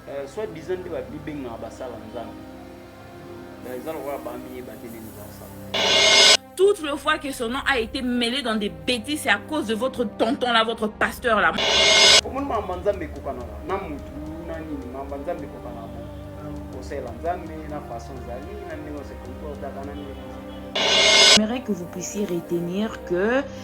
Eh, soit disant nde babibengaka basala nzambe eh, eza lokola bamiyeba te nini basala toutes les fois que son nom a été mêlé dans des bêtises, c'est à cause de votre tonton là, votre pasteur là. Comment maman nzambe kokana na mutu na nini maman nzambe kokana na kosela nzambe na façon zali na ndenge se comportaka na ndenge. J'aimerais que vous puissiez retenir que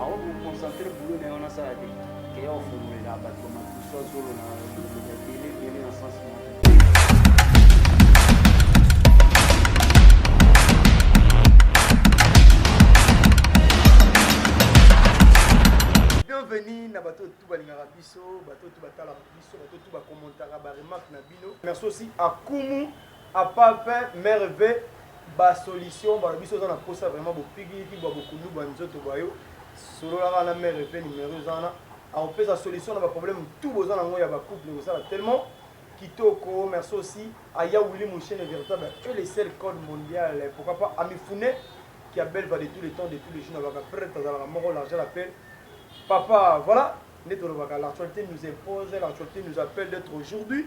Ako ko concentrer boulot na ye wana asala te ke ya ofungolelaka bato ba makusu azolo na ebele ebele na sens moko bienvenue na bato tout balingaka biso bato tout batalaka biso bato tout bakommentaka baremarque na bino merci aussi akumu A part pain, mere ve, ba solution balobi soki oza na posa vraiment bopigiliki bwa bokundu bwa nzoto bwa yo solola kaka na mere ve numero eza wana akopesa solution na ba problème tout boza nango ya ba couple ekosala tellement kitoko merci aussi a ya Willy Mushene veritable et le seul code mondial pourquoi pas Amifune qui a belle voix de tous les temps de tous les jours na baka prête azalaka moko l'argent l'appelle papa voilà nde tolobaka l'actualité nous impose l'actualité nous appelle d'être aujourd'hui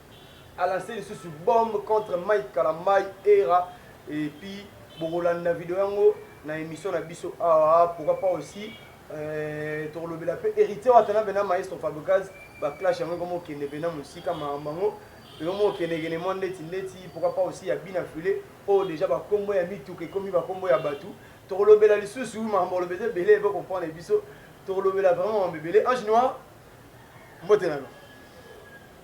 A lance lisusu bombe contre Mike kalambay erra et puis bokolanda video yango na emission na biso awa pourquoi pas aussi tokolobela pe Heritier watanabe na maestro Fabricaz ba clash yango ekomo kende pena musika makambo yango ekomo kende kende mwa ndeti ndeti pourquoi pas aussi ya bina file oyo deja ba kombo ya mituka ekomi ba kombo ya batu tokolobela lisusu makambo koloba eza ebele ebe comprendre biso tokolobela vraiment makambo ebele ange noir mbote na yo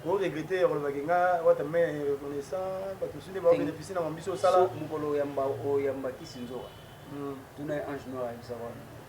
ko regretter olobaki nga wata me reconnaissant bato mosusu nde baobenefisi na mabiso osala mokolo oyamba oyamba kisi nzoka tuna ye ange noir ayebisa wana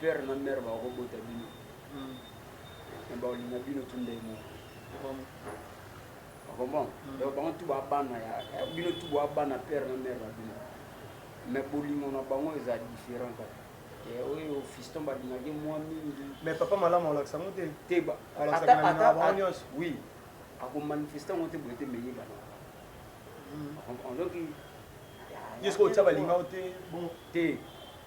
père na mère bako bota bino mais hmm. baolinga bino tu ndenge moko okomona hmm. donc bango tu ba bana ya bino tu ba bana père na mère na bino mais bolingo na bango eza différent kaka eh, oyo fiston balingaki mwa mingi mais papa malamu alakisa ngo te te oui akomanifeste yango te boye te meyebana hmm. donc yesko otya balingao te te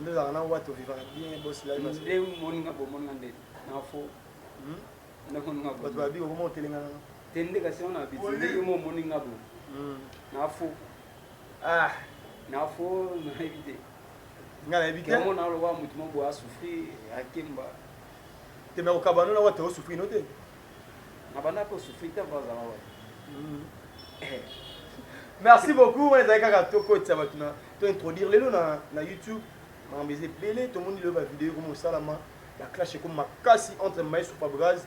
Nde ozalaka na wata ovivaka bien boss live na nde moni nga bomoni nga nde na fo hmm? nde moni nga bato babi okoma otelenga nanga te nde kasi wana abiti nde yo mo omoni nga bo hmm. na fo ah na fo nayebi te nga nayebi te yango naloba motu mo boye asouffrir akemba te me okabano na wata osouffrir no te na banda mpe osouffrir te mpo azala wata hmm. eh. merci beaucoup wana ezali kaka tokotisa bato na To introduire lelo na na YouTube makambo eza ebele tomoni lelo ba video ekomi kosalama ba clash ekomi makasi entre Maestro Fabraz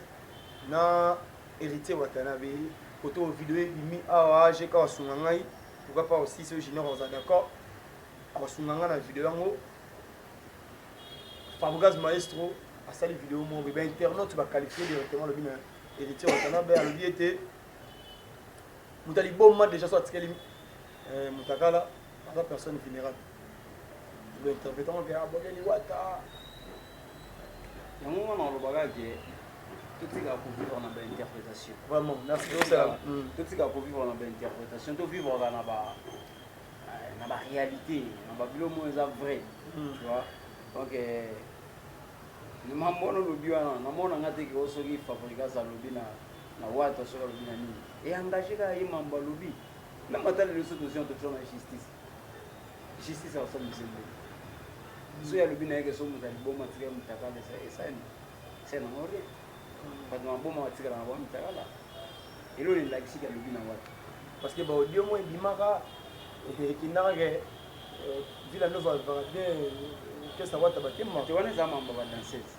na Heritier Watanabe kote oyo video ebimi awa AGK asunga ngai pourquoi pas aussi ce junior oza d'accord akosunga ngai na video yango Fabraz Maestro asali video moko ba internautes ba qualifier directement lobi na Heritier Watanabe alobi ete moto aliboma déjà so atikeli Eh, Mutakala aza personne vulnerable. Le interprétant que abonne liwata. Yango wana olobaka ke totika kovivre na bainterprétation. Vraiment, merci. Totika kovivre na bainterprétation, tovivaka na ba na ba réalité, na ba bilo moyo eza vrai. Hmm. Tu vois? Donc eh, mambo wana olobi wana namona nga te ke o soki fabrigas alobi na na wata soki alobi na nini eengage kaka ye mambo alobi Meme ata lelo soki tozwi yango totyona justice justice ya kosala biso nini soki alobi na ye ke soki moto ya liboma atikali motakala esani esani yango rien bato na maboma batikala na bango mitakala elo na elakisi ke alobi na wapi parce que baaudio moko ebimaka ekendaka ke vila nova alvaka te kesa wata bakema te wana eza mambo ya badanseuse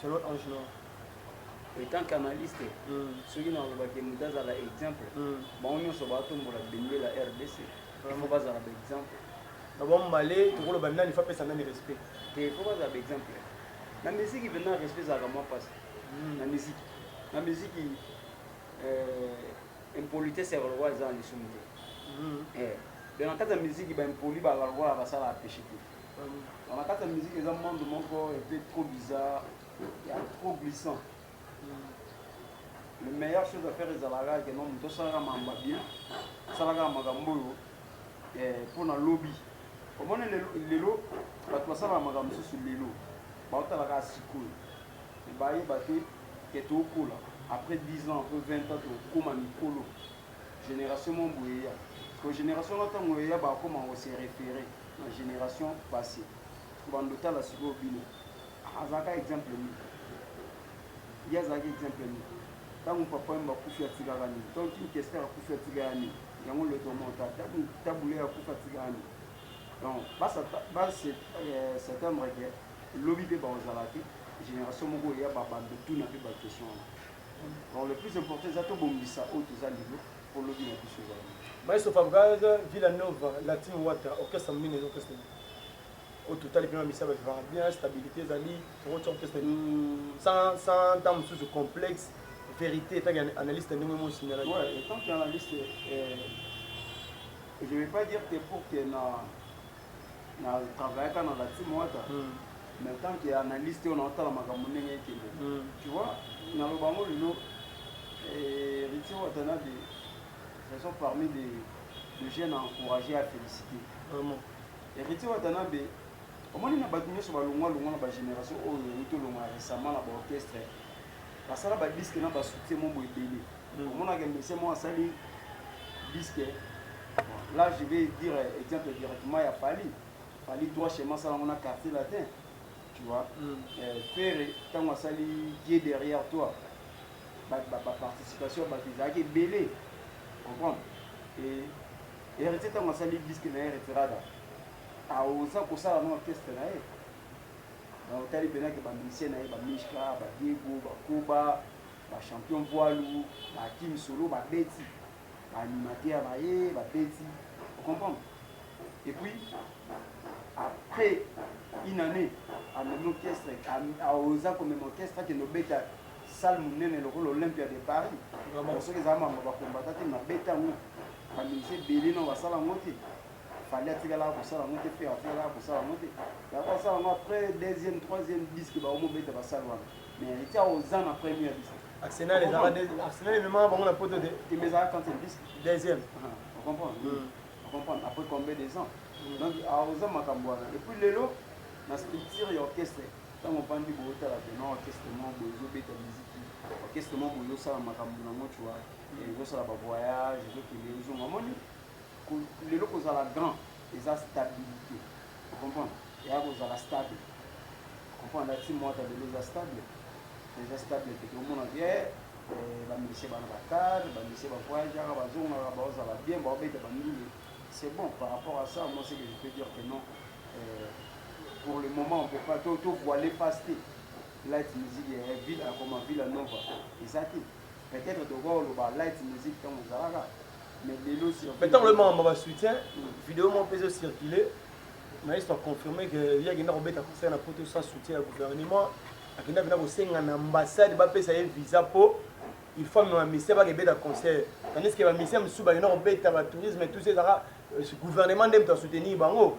selon ange non etant qu'analyste soki na olobaki moto azala exemple bango nyonso batombola bendela rdc fo bazala baexemple na bambale tokoloba nani fo apesa nani respect te fo bazala baexemple na miziki mpenza respect ezalaka mwa mpasi na miziki na miziki impolitesse ya kolokola eza na lisumu te eh, donc na kati ya miziki baimpoli balala lokola basalaka peshe te Na kati ya musique eza monde moko un peu trop bizarre ya trop glissant. Le meilleur chose à faire ezalaka que non moto asalaka makambo ya bien, asalaka makambo oyo eh, mpo na lobi. Omoni lelo, lelo bato basalaka makambo mosusu lelo baotalaka sikoyo bayeba te ke tokola après 10 ans après 20 ans tokoma mikolo génération moko boye eya ko génération na ntango eya bakoma kose référer na generation passe bando tala sikoyo bino azalaka exemple nini ye azalaki exemple nini ntango papa yemba akufi atikaka nini ntango kin kester akufi atika ya nini yango letomota ntango tabule akufi atika ya nini donc baseptembre euh, ke lobi mpe bakozala te génération moko eya babando tuna mpe baquestion wana donc le plus important eza tobongisa oyo toza lelo Po lobi na biso eza nini? Maestro Fabgaz, Villa Nova, La Team Wata, orchestre munene eza orchestre nini? Oyo totali pema misala ba vivaka bien, stabilite ezali, toko tia orchestre nini? Sans, sans temps mosusu complexe, verite etant que analyste ndenge mo signala yango. Ouais, etant que analyste, eh, je vais pas dire que pour que na na travaillaka na la team wata mm. mais tant que analyste on otala makambo ndenge ekende mm. tu vois na loba ngo lelo eh, Richie Watanabe ce sont parmi les les jeunes à encourager à féliciter vraiment Richie Watanabe omoni na bato nyonso balongwa longwa na bagénération oyo euti olongwa récemment na baorchestre basala badisque na basoutien mo boye ebele Hmm. Omona ke monsieur mo asali disque. Là je vais dire exemple directement ya Fally. Fally droit chemin sala ngona quartier latin. Tu vois. Hmm. Euh, Ferre tango asali qui est derrière toi. Ba, ba, ba participation ba bizaki belé. Comprendre? Et héritier tango asali disque na héritier rada. Aoza kosala na orchestre na ye. otali mpenza ke bamisie na ye bamishka badiego bakoba ba champion poids lourd ba Hakim Solo ba beti ba animateur ba ye ba beti o comprendre et puis après une année amemi orchestre aoza komema orchestre akende obeta salle monene lokola olympia de paris soki eza mambo bakombata te mabeta yango bamisi ebele no basala yango te fali atikalaka kosala yango te fere atikalaka kosala yango te yango asala yango après deuxième troisième disque baomobeta basale wana Arsenal ezalaka deuxième. Arsenal ememaka bango na poto te. Deuxième. Après combien des ans? Donc aoza makambo wana. Et puis lelo na structure ya orchestre ntango ofandi boye otala vraimen orchestre moko boye ezobeta miziki orchestre moko boye ezosala makambo nango cua ezosala bavoyage ezokende ezonga omoni lelo kozala grand eza stabilité O comprendre? Yaya ko zala stable. O comprendre? La team Wata lelo eza stable? Eza stable te. Tozo mona ke ba musiciens bana ba car, ba musiciens ba voyageaka, ba zongaka, bao zala bien, bao beta ba ndule. C'est bon par rapport à ça, moi ce que je peux dire que non. Euh, pour le moment on peut pas to to voiler face te. Light music ya ville akoma Villa Nova. Eza te. Peut etre tokoki koloba light music tango ezalaka mais lelo surtout. Mais tango loyebaka ba soutien video moko pe ezo circuler Maestro a confirme que ye akenda kobeta concert na poto sans soutien ya gouvernement akenda pena kosenga na ambassade bapesa ye visa po il faut amema musicien baka ebeta concert tandis que ba musicien mosusu bakenda kobeta ba tourisme tout ça ezalaka gouvernement nde moto asoutenir bango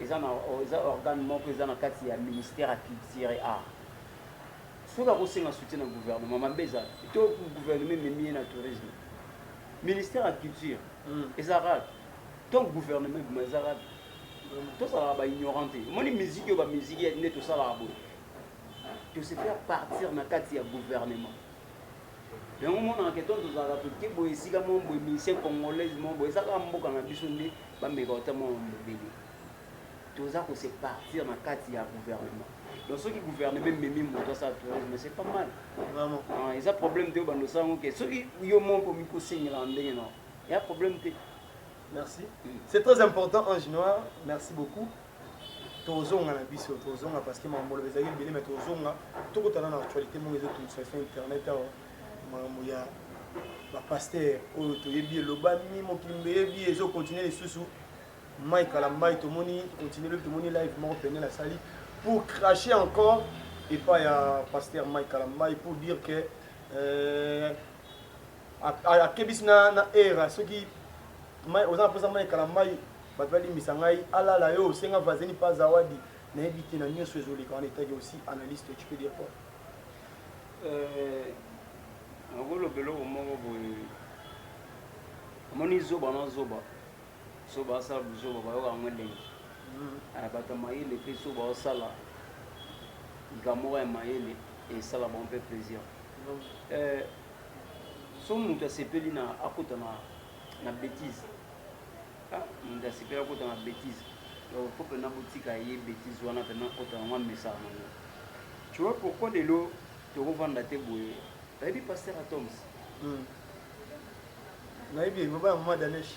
Eza na eza organe moko eza na kati ya ministère ya culture et art. Soki ako senga soutien na gouvernement mabe eza wapi? To gouvernement ememi ye na tourisme? Ministère ya culture ezalaka wapi? To gouvernement ebima ezalaka wapi? Tozalaka ba ignorant te. Omoni musique oyo ba musique nde tosalaka boye. To se faire partir na kati ya gouvernement. Yango omonaka ke to tozalaka toke boye esika moko boye musicien congolaise moko boye eza kaka mboka na biso nde bameka kota mwa mobele toza ko se partir na kati ya gouvernement donc soki gouvernement ememi moto asala tourisme c'est pas mal vraiment ah, eza problème te obanda osala yango ke soki yo moko okomi kosengelaka ndenge na ya problème te merci mm. c'est très important ange noir merci beaucoup tozonga na biso tozonga parce que mamoloba ezalaki ebele mais tozonga tokutana na actualité moko ezotungisa efe internet awa makambo ya bapaster oyo toyebi elobami mokili mbeyebi ezokontinue lisusu mai kala mai tomoni continue lobi tomoni live moko pene nasali pour cracher encore epai ya paster mai kala mai pour dire que euh, Akebisi na na Erra soki mai oza na posa mai kala mai bato balimbisa ngai alala yo osenga vazeni pa zawadi nayebi te na nyonso ezoleka wana etaki aussi analyste tu peux dire quoi nakoloba euh, eloko moko boye omoni zoba na zoba so basala buzoba bayoka yango elengi mm. ah, bato ya mayele mpe so baosala likambo moko ya mayele esala bango mpe plaisir mm. euh, Soki mutu asepeli na akota na na betise ah mutu asepeli akota na betise donc faut pena botika ye betise wana pena akota yango amesaka nango tu vois pourquoi lelo tokovanda te boye bayebi pasteur atoms hmm. nayebi yango bana mama danesh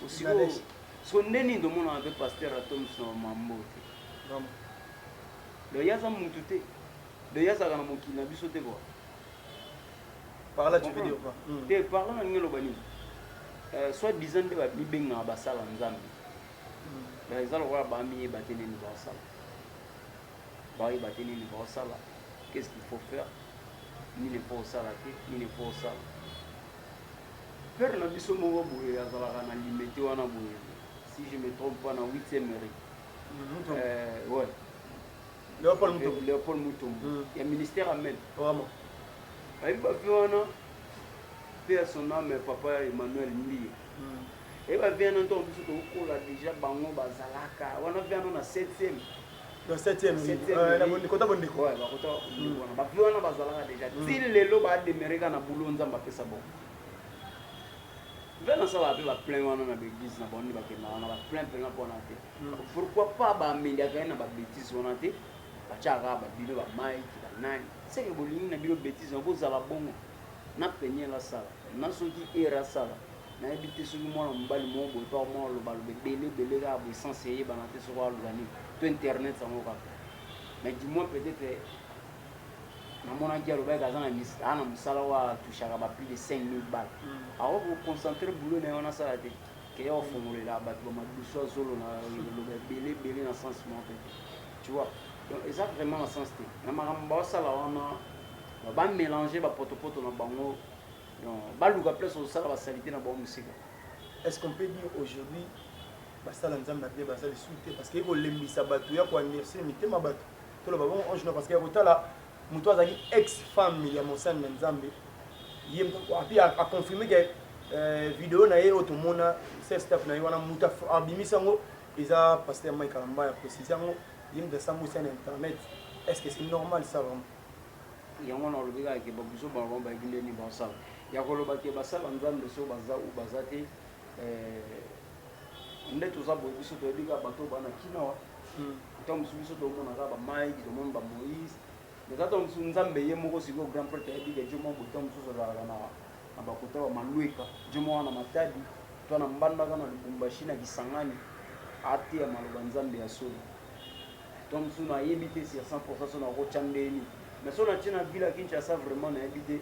so nde nini tomonaka mpe pasteur atoms na mambo te donc ye aza mutu te donc ye azalaka na mokili na biso te kua parla tu veux dire quoi hmm. te parla na ndenge eloba nini euh, soit disant nde bamibengaka basala nzambe hmm. eza lokola bamiyeba te nini baosala bayeba te nini baosala qu'est ce qu'il faut faire nini mpo osala te nini mpo osala pere na biso moko boye azalaka na limete wana boye si je me trompe pas na 8 mairie mhm, euh, ouais Leopold Mutombo. Leopold Mutombo. Mm. Ya ministère amen. Vraiment. Ayebi ba vie wana pe ya son âme papa Emmanuel Mbiye. Mm. Ayebi ba vie wana ntango biso tokola déjà bango bazalaka wana vie wana na 7e. Na 7e. Euh, na bondeko ta bondeko. Ouais, bakota bondeko mm. wana. Ba vie wana bazalaka déjà. Mm. Ti lelo ba demeureka na boulot nzambe apesa bongo. Nga nasalaka pe ba plein wana na ba eglise na bango nde bakendaka na ba plein pena pona te pourquoi pas ba ameliaka ye na ba betise wana te batiaka kaka ba bino ba Mike ba nani seke bolingi na bino betise wana bozala bongo na penielle asala na soki Erra asala nayebi te soki mwana mobali moko boye pa mwa aloba aloba ebele ebele kaka boye sans eyebana te soki aloba nini to internet yango kaka mais du moins peut-être namonaki alobaki aza na misala na musala wa touchaka ba plus de 5000 balles mm. awa ko concentrer boulot na yo na sala te ke yo ofongolela bato ba madusu azolo na loba ebele ebele na sens moko te tu vois donc eza vraiment na sens te na makambo baosala wana ba mélanger ba potopoto na bango donc baluka place osala ba salite na bango mosika est-ce qu'on peut dire aujourd'hui basala nzambe na bien baza lisusu te parce que ekolembisa bato ya koandirse mitema bato toloba bongo ange noir parce que ya kotala moto azalaki ex femme ya mosani na nzambe ye api aconfirme ke euh, video na ye oyo tomona sestap na ye wana moto abimisi yango eza paster mai kalamba ya précise yango ye moto asambusi ya na internet est ce que c'est normal ça vraiment yango na olobi kaka ke babuzo bango bango bayaki ndeni basala ya koloba ke basala nzambe so baza u baza te euh, nde toza boye biso toyebi kaka bato oyo bana kina wa ntango mosusu biso tomona kaka bamike tomoni bamoïse eza ntango mosusu nzambe ye moko sikoyo grand prêtre ayebi ke jo mwa boye ntango mosusu azalaka na bakota ba malweka jo mwa wana matadi to na mbandaka na lubumbashi na kisangani ateya maloba nzambe ya solo ntango mosusu nayebi te sur 100 pourcent so nakotya ndeni mais so natye na vila kinshasa vraiment nayebi te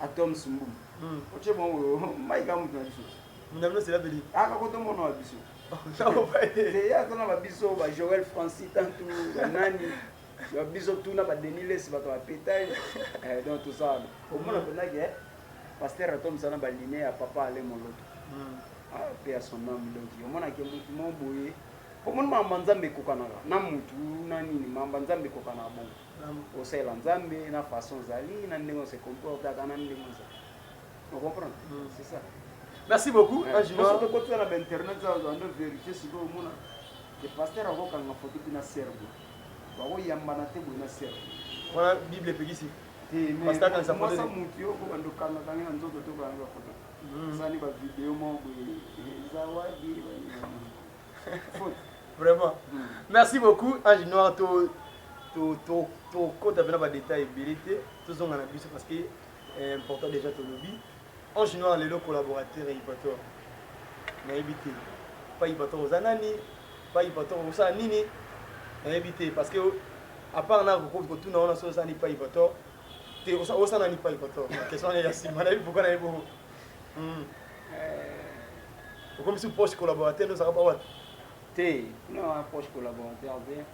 Athoms Mbu otie mwa oyo Mike ya moto na biso moto na bino sela beli aka koto mono wa biso te ya tona ba biso ba Joel Francis tantu ba nani ba biso tuna ba Denis Les bato ba petaye eh, donc tout ça omona pena ke pasteur Athoms na ba ligne ya papa ale moloto hmm. ah, pe ya son âme donc omona ke moto mo boye po moni mamba nzambe ekokanaka na motu na nini mamba nzambe ekokanaka bongo Osalela Nzambe na façon ozali, na ndenge ose comportaka, na ndenge ozali. Vous comprenez? Mm. C'est ça. Merci beaucoup. Eh, Parce que quand tu as l'internet, tu as une vérité, c'est que mon le pasteur a vu quand on a photo na serbe. Ba ko yamba na te na serbe. Voilà Bible epekisi. Te mais pasteur quand ça photo. Moi ça mutu yo ko bando kanga kanga na nzoto to kanga photo. Sani ba vidéo mo bo. Zawadi. vraiment merci beaucoup ange noir to tokota mpena badetail ebele te tozonga na biso parce que eh, important déjà tolobi ange noir lelo collaborateur ya ipator nayebi te pa ipator oza nani pa ipator okosala nini nayebi te parce que apart na kokoki kotuna wana soki oza ni pa ipator te osala nani pa ipator question wana ya nsima nayebi pourkoi nayebi bongo Hmm. Eh. Okomisi proche collaborateur ozaka ba wapi? Te, kuna na proche collaborateur te.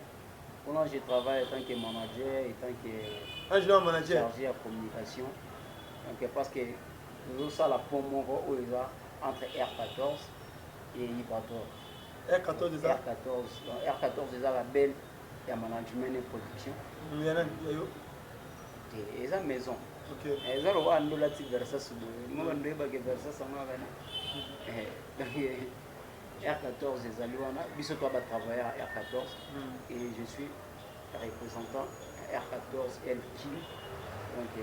Kuna je travaille en tant que manager et tant que un jeune manager chargé ya communication. Donc parce que nous ça la pont moko oyo eza entre R14 et Ibrator. R14 eza R14. R14 eza la belle ya management et production ya nani ya yo te eza maison okay. Eh, eza lokola ndola ti versas boye mo bando oyebake versas yango ya bana r14 ezali wana biso toa batravailleur ya r14 hmm. et je suis représentant r14 lkim donc euh,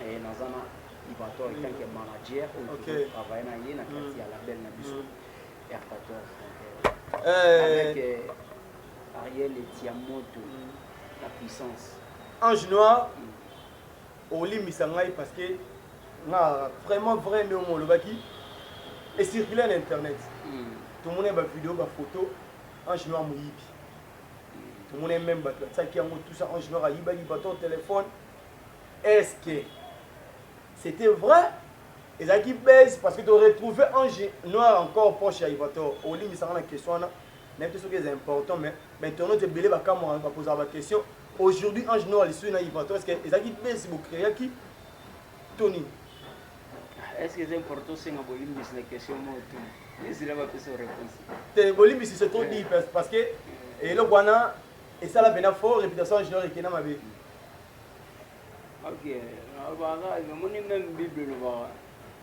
eh, naza na libato en tant que hmm. manager oyo totravaille na ye na kati hmm. ya label na biso r14 donc euh, eh. avec euh, Ariel etia moto la puissance. Ange noir olimbisa ngai parce que nga vraiment vrai nde omo olobaki ecircule na internet hmm. tomona ba video ba photo ange noir moyibi tomona meme bato batiaki yango tout ça ange noir ayibaki bato téléphone est ce que c'était vrai ezalaki base parce que toretrouve ange noir encore proche ya ivator olimbisanga na question wana nayebi te soki eza important mais bainternaute ebele bakamwaka bapozaka baquestion aujourd'hui ange noir lisusu na ivato estce ezalaki besi bocreaki to nini ah, est ce que eza important osenga bolimbisi na question moko tu ezila bapesa réponse te bolimbisi se trop dit parce que eloko wana esala mpena fort réputation ange noir ekenda mabe ok nalobaka namoni meme bible elobaka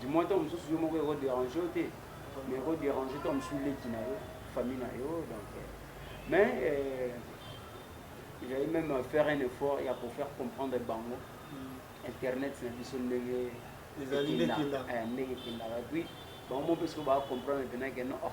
Du moins tango mosusu yo moko eko deranger yo te mais eko deranger tango mosusu leki na yo, famille na yo donc euh, mais euh, j'allais même faire un effort ya ko faire comprendre bango internet na biso ndenge Ezali nde ekenda. ekenda. Eh, ndenge ekendaka puis bango moko mpe soki baa comprendre mpenza ke non oh,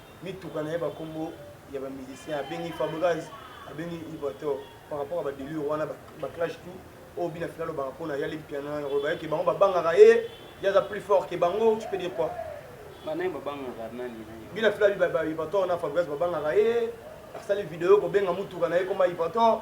mituka na ye ba kombo ya ba musiciens abengi Fabregas abengi Ibrator par rapport à ba delire wana ba clash tout oyo oh, bina fina lobaka pona ya limpiana na koloba yeke bango babangaka ye ye aza plus fort ke bango tu peux dire quoi bina fila ibrator na Fabregas babangaka ye asali video kobenga mutuka na ye koma ibrator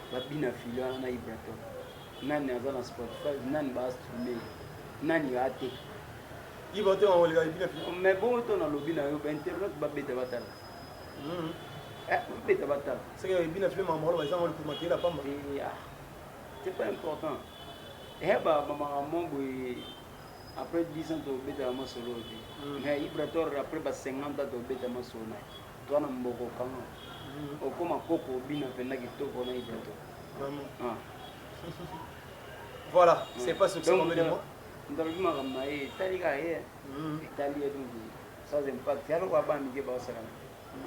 babina fili wana na ibraton nani aza na spotify nani baastrume nani ateka iba te makoleka ebina fili oh, mais bongo to nalobi na yo bainternet babeta batala hmm. eh, babeta batala seke ebina fili makambo wana ezanga likuma keyela pamba eh, ah. c'est pas important ehe eh, bamakambo boye après 10 ans tobetaka masolo te mais ibrator après ba 50 ans tobeta masolo na ye Toi na mboko kanga okoma koko obina penza kitoko na ipoto ah. voilà c'est pas ce que c'est comme les mots ndalobi makambo na ye etali kaka ye etali ye donc sans impact ya lokola bana mike baosalana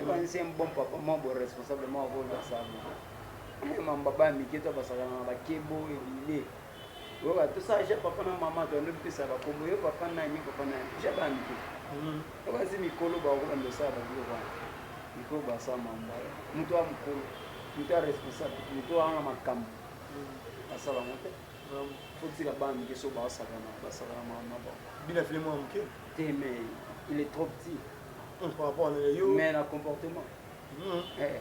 ebanisi un bon papa mwa bo responsable mwa bolasabo mamba bana mike to basalana na bakebo ebile Oyoka to sala ja papa na maman to ando pesa ba kombo yo papa nani papa nani ja ba mike. Mm. Ba ba zimi kolo ba ko ba ndo sala ba bilo ba. Miko ba sa mamba. Muto a mukolo. Muto a responsable. Muto a na makambo. Mm. Asala mote. Mm. Faut dire ba mike so ba sala na ba sala na maman ba. Bina filé moi mike. Te mais il est trop petit. Mm, par rapport à yo. Mais na comportement. Mm. Eh.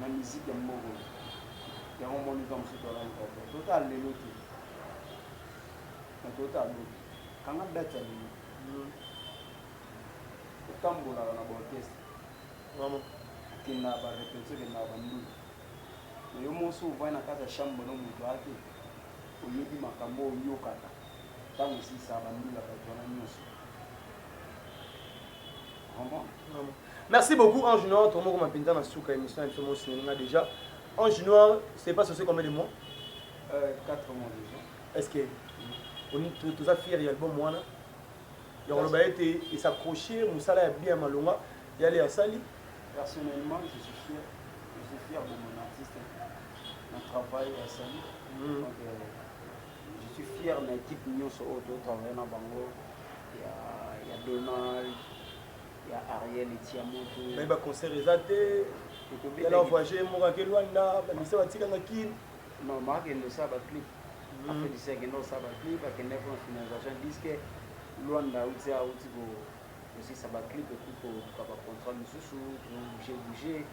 na musique ya mboka oyo yango moni nzambe mosusu tolali kaka tota lelo te na tota lobi kanga date ya lelo hmm. otambolaka na baorchestre akenda barepetio kendaka bandulu na yo mosi ovai na kati ya chambre no moto aya te oyebi makambo oyokaka ntango esisa bandulaka wana nyonso Merci beaucoup Ange Noir, trop moko mapinza na suka émission na biso mo signalinga déjà. Ange Noir, c'est pas censé combien de mois euh, 4 mois déjà. Est-ce que on tous a fier l'album wana ya koloba ete esaccroche mosala ya bien malonga yale asali personnellement je suis fier je suis fier de mon artiste na travail asali mm. donc euh, Je suis fière na equipe nionso oyo to travailler na bango ya ya Donald ya Ariel et Tiamoto. Mais ba concert eza te. Ekobela na voyager moka ke Luanda, ba misa ba tika na kin. Non, ma kende sa ba clip. Mm. Après disa kende sa ba clip, ba kende pour finalisation disque Luanda uti a uti ko aussi ça ba clip et puis ko ka ba contrat mususu, bouger bouger.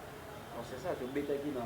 Donc c'est ça to betaki na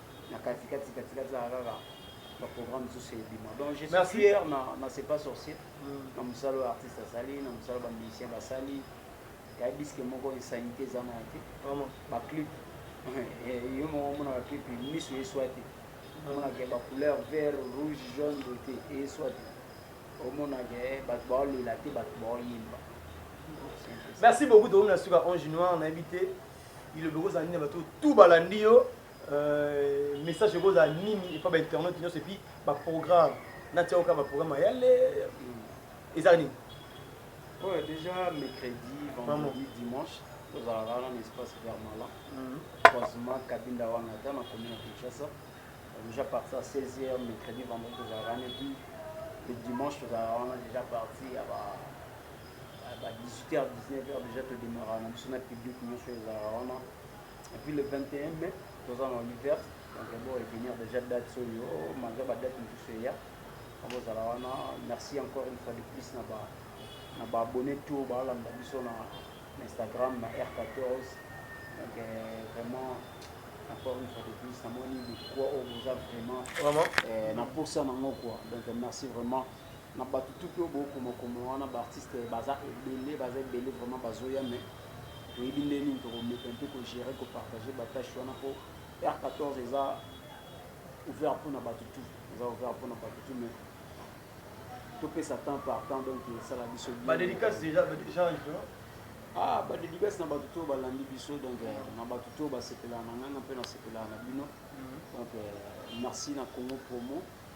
na kati kati kati kati zaka kaka ba programme mosusu ebima donc je suis fier na na c'est pas sorcier mm. na mosala oyo artiste asali na mosala ba musicien basali yabiske moko insanité eza na te ba clip eh, yo moko omona ba clip miso eswa te omonaka ba couleur vert rouge jaune bote eswa te omonaka eh, bato baolela te bato baoyemba merci beaucoup tokomi na suka ange noir nayebi te ilobi okozala nini bato tu balandi yo Euh, message ekozala nini epa ba internaute nyonso epi ba programme natia oka ba programme ya le eza nini oyo oh, déjà mercredi vendredi dimanche tozalaka wana na espace vers malan mhm. croisement kabinda wana ata na commune ya kinshasa déjà parti à 16 heures mercredi vendredi tozalaka wana epuis le dimanche tozalaka wana déjà parti ya ba ba 18 heures 19 heures déjà todemaraka na biso na public nyonso ezalaka wana Et puis le 21 mai, toza na Oliver, donc bon revenir déjà date oyo, malgré ba date mosusu eya, akozala wana. Merci encore une fois de plus na ba na ba abonnés tout balanda biso na Instagram na R14. Donc euh, vraiment encore une fois de plus namoni likwa oyo boza vraiment euh, na posa nango quoi. Donc merci vraiment. Na batu tout oyo bo koma koma wana ba artistes baza ebele baza ebele vraiment bazo ya mais toyebi nde nini toko meka un peu ko gerer ko partager ba taches wana po heure 14 eza ouvert pona batu tout eza ouvert pona batu tout mais to pesa temps par temps donc esala biso bien ba dedicace déjà ba déjà ah ba dedicace na batu tout ba landi biso donc euh, na batu tout ba sepela na nganga pe na sepela na bino mhm. donc euh, merci na Congo promo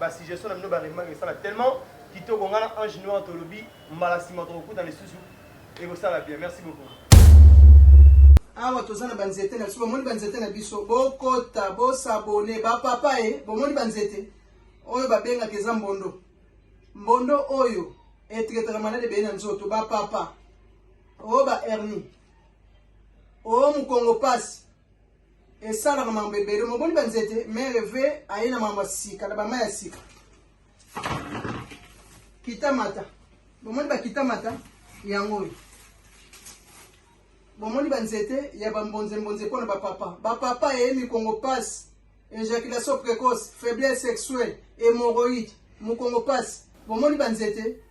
Ba suggestions na bino ba remarques esala tellement kitoko nga na Ange Noir tolobi mbala sima tokokutana lisusu ekosala bien merci beaucoup. Awa toza na ba nzete na biso bomoni ba nzete na biso bokota bo s'abonner ba papa e bomoni ba nzete oyo babengaka eza mbondo mbondo oyo etretaka malade ebele na nzoto ba papa o ba hernie o mokongo pasi esalaka mambo ebele moboni banzete mere ve aye na mambo ya sika na bama ya sika kitamata bomoni bakitamata yango oyo bomoni banzete ya bambonzembonze mpo na bapapa bapapa eye mikongo pasi ejaculation précoce faiblesse sexuelle hémorroïde mokongo pasi bomoni banzete